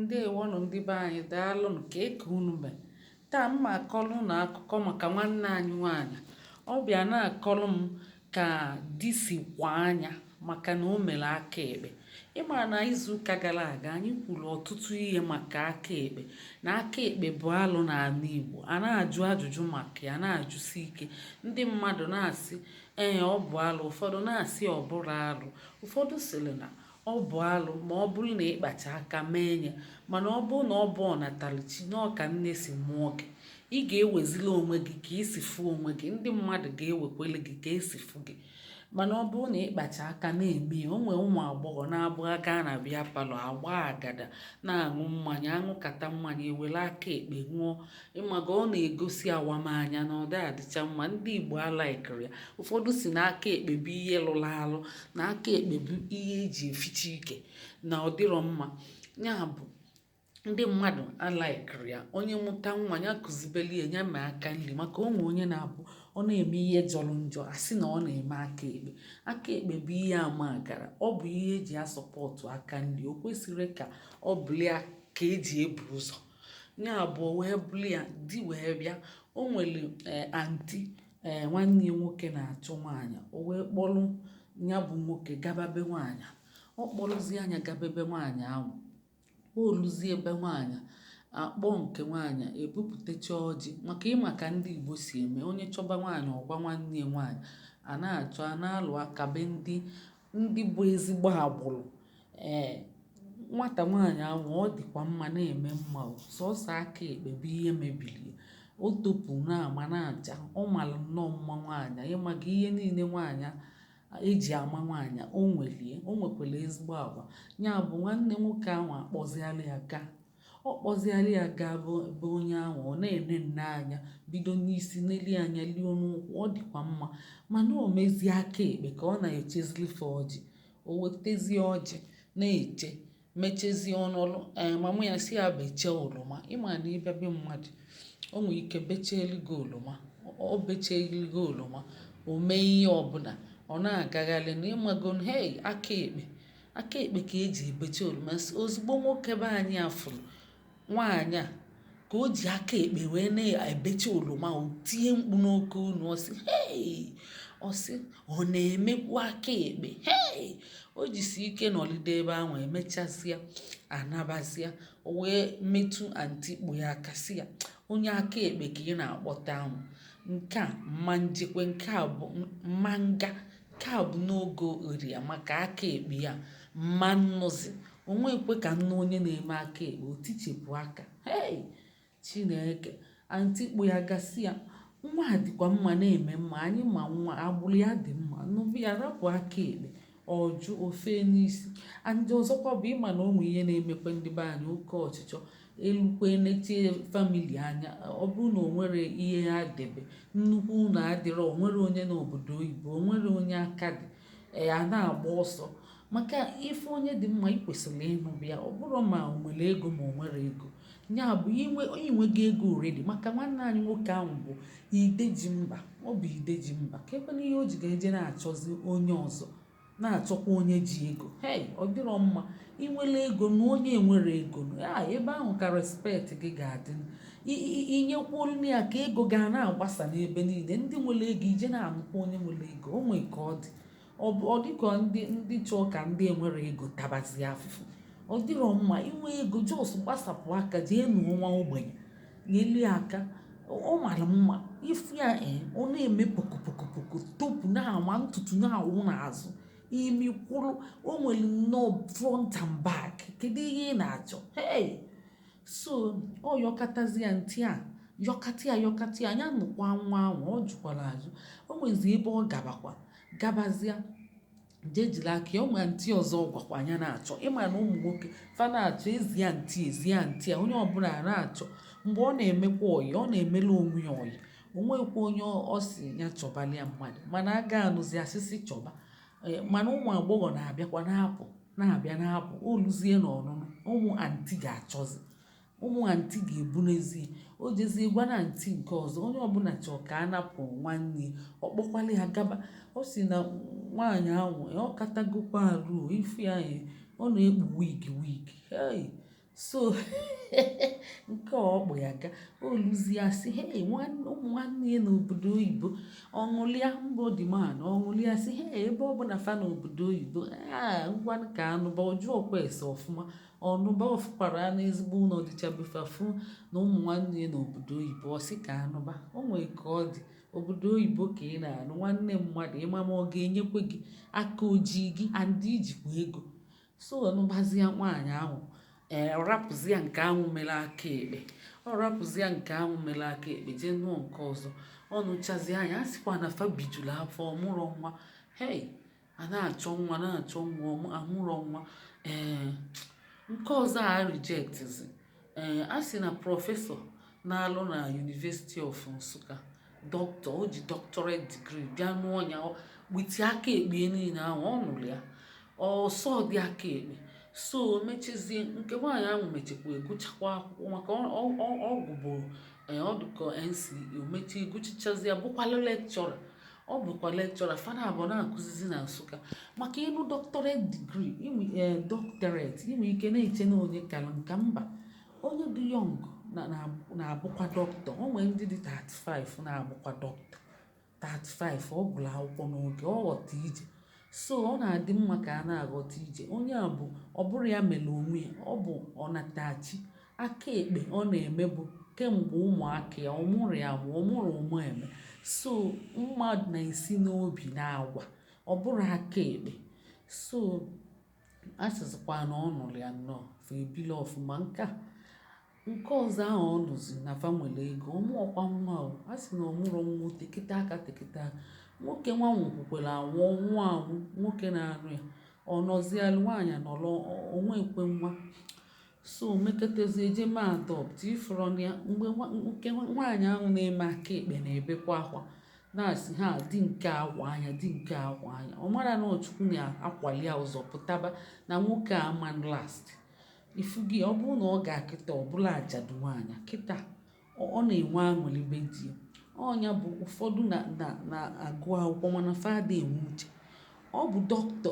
Ndeewonụ ndị be anyị, daalụnụ ka eke unu mee. Taa m na-akọrọ unu akụkọ maka nwanne anyị nwaanyị. Ọ bịa na-akọrọ m ka di si kwaa nya maka na o mere aka ekpe. Ịma na izuụka gara aga anyị kwuru ọtụtụ ihe maka aka ekpe na aka ekpe bụ alụ n'ala Igbo. A na-ajụ ajụjụ maka ya na-ajụsi ike. Ndị mmadụ na-asị ee ọ bụ alụ, ụfọdụ na-asị ọ bụrọ alụ. Ụfọdụ sịrị na Ọ bụ alụ ma ọ bụrụ na ị kpacha aka mee ya, mana ọ bụrụ na ọ bụ ọnatalichi na ọ ka nne si mụọ gị, ị ga-ewezili onwe gị ka i si fụ onwe gị, ndị mmadụ ga-ewekwele gị ka esi fụ gị. Mana ọ bụrụ na ị kpacha aka na-eme ya, o nwee ụmụ agbọghọ na-abụ ha gaa na beer parlour, agbaa agada, na-aṅụ mmanya, aṅụkata mmanya, ewere aka ekpe ṅụọ, ịmaga ọ na-egosi awamanya na ọ dị adịcha mma ndị Igbo alikerọ ya ụfọdụ si na aka ekpe bụ ihe lụrụ alụ na aka ekpe bụ ihe eji eficha ike na ọ dịrọ mma ya bụ ndị mmadụ alikerọ ya onye mụta nwa ya kụzibelie ya mee aka nri maka o nwee onye na-abụ ọ na-eme ihe jọrọ njọ asị na ọ na-eme aka ekpe aka ekpe bụ ihe ama gara ọ bụ ihe eji asupport aka nri o kwesịrị ka ọ bụlụ ya ka eji ebu ụzọ ya bụ o wee bụrụ ya di wee bịa o nwere eh, aunty ee eh, nwanne ya nwoke na-achọ nwaanyị o wee kpọrọ ya bụ nwoke gaba be nwaanyị ọ kpọrọzie nya gabe be nwaanyị ahụ o luzie be nwaanyị akpọ nke nwaanyị ebupụtacha ọjị maka ịma ka ndị Igbo si eme onye chọba nwaanyị ọ gwa nwanne ya nwaanyị a na-achọ a na-alụ a gaa be ndị ndị bụ ezigbo agbụrụ ee nwata nwaanyị ahụ ọ dịkwa mma na-eme mma o sọsọ aka ekpe bụ ihe mebiri ya o topu na-ama na-acha ọ mara nnọọ mma nwaanyị ịmaga ihe niile nwaanyị eji ama nwaanyị o nwelie o nwekwara ezigbo agwa ya bụ nwanne nwoke ahụ akpọziala ya gaa Ọ kpọzịalị ya gaa be onye ahụ, ọ na-ene nnọọ anya, bido n'isi nelie anya luo n'ụkwụ, ọ dịkwa mma. Mana o mezie aka ekpe ka ọ na-echezili fa ọjị. O wetezie ọjị na-eche, mechazie ọ nọlụ, ee mama ya sị ya bechaa oroma. Ị ma na ị bịa be mmadụ, o nwee ike becheelụ gị oroma. O becheelụ gị oroma, o mee ihe ọbụla, ọ na-agaghalịnụ. Ị magonu, hei! Aka ekpe. aka ekpe ka e ji ebecha oroma ozugbo nwoke be anyị a fụrụ nwaanyị a ka o ji aka ekpe wee na-ebecha oroma o tie mkpu n'oke onu ọ sị hei ọ sị ọ na-emekwu aka ekpe hei o jisi ike nọlide ebe ahụ emechazịa anabazịa o wee metụ aunty kpọ ya aka sị ya onye aka ekpe ka ị na-akpọta ahụ nke a ma njekwe nke a bụ ma nga Nke a bụ n'oge ori ya maka aka ekpe ya m ma nụzi o nwekwe ka m nụ onye na-eme aka ekpe o tichepụ aka hei chineke anti kpọ ya ga sị ya nwa a dịkwa mma na-eme mma anyị ma nwa agbụrụ ya dị mma nụba ya rapụ aka ekpe ọ jụ ofe n'isi and ọzọkwa bụ ị ma na o nwe ihe na-emekwa ndị be anyị oke ọchịchọ e lukwe nechie family anya ọ bụrụ na o nwere ihe ha debe nnukwu ụlọ adịrọ o nwere onye nọ obodo oyibo o nwere onye aka dị ee, a na-agba ọsọ maka ị fụ onye dị mma ị kwesịrị ịnụbu ya ọ bụrụ ma o nwere ego ma o nwerọ ego ya bụ ị nwe ị nwego ego already maka nwanne anyị nwoke ahụ bụ ide ji mba ọ bụ ide ji mba ka ebe na ihe o ji ga-eje na-achọzi onye ọzọ na-achọkwa onye ji ego hey ọ dịrọ mma ị nwere ego nụ onye enwerọ ego n'ebe ahụ ka respect gị ga-adị ị nyekwuolu ya aka ego ga na-agbasa n'ebe niile ndị nwere ego eje na-anụkwa onye nwere ego o nwee ka ọ dị ọ dịka ndị ndị chọọ ka ndị enwerọ ego tabazie afụfụ ọ dịrọ mma ị nwee ego just gbasapụ aka jee nụọ nwa ogbenye Nyelu ya aka, ọ mara mma. Ị fụ ya eh, ọ na-eme pokopokopoko, topu na-ama ntutu na-awụ n'azụ. Imi kwụrụ, o nwere nnọọ front and back. Kedu ihe ị na-achọ? Hey! So, ọ yọkatazi ya, anti a yọkata ya yọkata ya, nya nụkwa nwa ahụ, ọ jụkwara ajụ. O nwezi ebe ọ gabakwa, gabazịa. jee jiri aka ya ụmụ anti ọzọ ọ gwakwa nya na-achọ ị ma na ụmụ nwoke fa na-achọ e zie anti e zie anti a onye ọbụla na-achọ mgbe ọ na-emekwa ọyị ọ na-emela onwe ya ọyị o nwekwa onye ọ sị ya chọbali ya mmadụ mana a ga-anụzi a sịzi chọba e, mana ụmụ agbọghọ na-abịakwa na-apụ na-abịa na-apụ o luzie n'ọnụnụ ụmụ anti ga-achọzi Ụmụ anti ga-ebunazie. O jezie gwa na anti nke ọzọ, onye ọbụla chọọ ka a nụpụ nwanne ya, ọ kpọkwalụ ya gaba. Ọ sị na nwaanyị ahụ, ọ katagokwa arụ o, ị fụ ya e, ọ na-ekpu wig wig. Hey! So, nke a ọ kpọ ya ga, o luzie a sị, hey, nwanne, ụmụ nwanne ya nọ obodo oyibo, ọ ṅụlịa mba, ọ dị mma nụ, ọ ṅụlịa sị, hey, ebe ọ bụ na fa nọ obodo oyibo, ah, ngwanụ ka a nụba, ọ jụọkwa ese ọfụma. Ọ nụba ọ fụkwara na ezigbo ụlọ dịcha be fa fụ na ụmụ nwanne ya nọ obodo oyibo ọ sị ka a nụba o nwere ka ọ dị obodo oyibo ka ị na-anụ nwanne mmadụ ị ma ma ọ ga-enyekwe gị aka ojii gị and i jikwa ego so ọ nụbazia nwaanyị ahụ ee ọ rapụzia nke ahụ mere aka ekpe ọ rapụzia nke ahụ mere aka ekpe jee nụọ nke ọzọ ọ nụchazia nya a sịkwa na fa bijuru afọ ọ mụrụ nwa hei A na-achọ nwa na-achọ nwa ọmụ amụrọ nwa ee nke ọzọ a rejectzi ee a sị na prọfesọ na-alụ na University of Nsụka dọkịta o ji doctorate degree bịa nụọ ya with aka ekpe niile ahụ ọ nụrụ ya ọsọ dị aka ekpe so mechizie nke nwaanyị ahụ mechikwa gụchakwa akwụkwọ maka ọ gụbu ọdụkọ NCE o mechi gụchachazie bụkwalụ lekchọra ọ bụkwa lekchọra fana abụọ na-akụzizi na Nsụka maka ị nụ doctorate degree inwe eh, doctorate i nwe ike na-eche na onye kara nka mba onye dị young na-abụkwa dọkịta o nwere ndị dị 35 na-abụkwa dọkịta 35 ọ gụrụ akwụkwọ n'oge ọ ghọta ije so ọ na-adị mma ka a na-aghọta ije onye a bụ ọ bụrọ ya mere onwe ya ọ bụ ọnatachi Aka ekpe ọ na-emebu kemgbe ụmụaka ya, ọ mụrụ ya mụ, ọ mụrụ ụmụ eme. So mma na-esi n'obi na agwa, ọ bụrọ aka ekpe. So a sịzịkwa na ọ nụrụ ya nnọọ, fa ebiri ọfụma. Nke a, nke ọzọ ahụ ọ nụzi na fa nwere ego, ọ mụọkwa nwa o. A sị na ọ mụrọ nwa o tekịta aka tekịta aka. Nwoke nwa nwụkwukwara anwụ, ọ nwụọ anwụ, nwoke na-anụ ya. Ọ nọzịalụ, nwaanyị anọlụ, o nwekwe nwa. So mekatazie e je mee adopt ị fụrọ nya mgbe nwa- nke nwa- nwaanyị ahụ na-eme aka ekpe na-ebekwa akwa na-asị ha di nke akwa anya di nke akwa anya ọ mara na ọ Chukwu na-akwali ya ụzọ pụtaba na nwoke ama last ifu gị ọ bụrụ na ọ gaa kịta ọ bụla ajadu nwaanyị kịta ọ na-enwe aṅụlị be di ya. Ọ nya bụ ụfọdụ na na na agụ akwụkwọ mana fa ada enwe uche. Ọ bụ dọkịta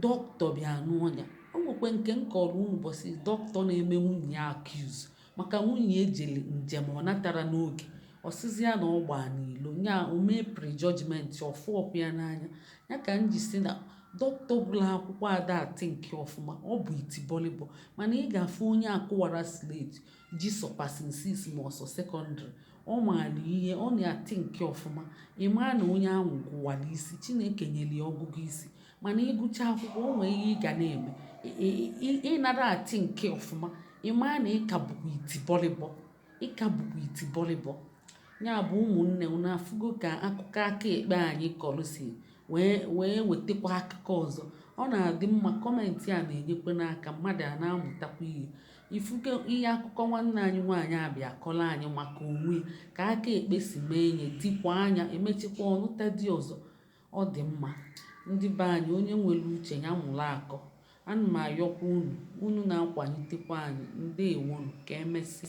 dọkịta bịa nụọ ya. O nwekwe nke m kọọrọ unu ụbọchị dọkịta na-eme nwunye ya accuse maka nwunye ya jere njem ọ natara n'oge. Ọ sịzị ya na ọ gbaa n'ilo. Nya o mee pre-judgement, ọ fụọkwa ya n'anya. Ya ka m ji sị na dọkịta gụrụ akwụkwọ ada a think ọfụma. Ọ bụ itibọlịbọ mana ị ga-afụ onye a kụwara slate ji sọ passing six ma ọ sọ sekọndịrị ọ maara ihe ọ na-a think ọfụma ị mara na onye ahụ gụwara isi Chineke nyere ya ọgụgụ isi mana ị gụcha akwụkwọ o nwee ihe ị ga na-eme ị nara a think ọfụma ị mara na ị ka bụkwa iti bọlịbọ ị ka bụkwa iti bọlịbọ ya bụ ụmụnne unu afụgo ka akụkọ aka ekpe anyị kọrọ si wee wee wetakwa akụkọ ọzọ ọ na-adị mma comment a na-enyekwa n'aka mmadụ a na-amụtakwa ihe Ifuke ihe akụkọ nwanne anyị nwaanyị a bịa kọrọ anyị maka onwe ka aka ekpe si mee enye dikwa anya emechikwa ọ nụta di ọzọ ọ dị mma ndị be anyị onye nwere uche ya mụrụ akọ ana m ayọkwa unu unu na-akwalitekwa anyị ndewonu ka emesịa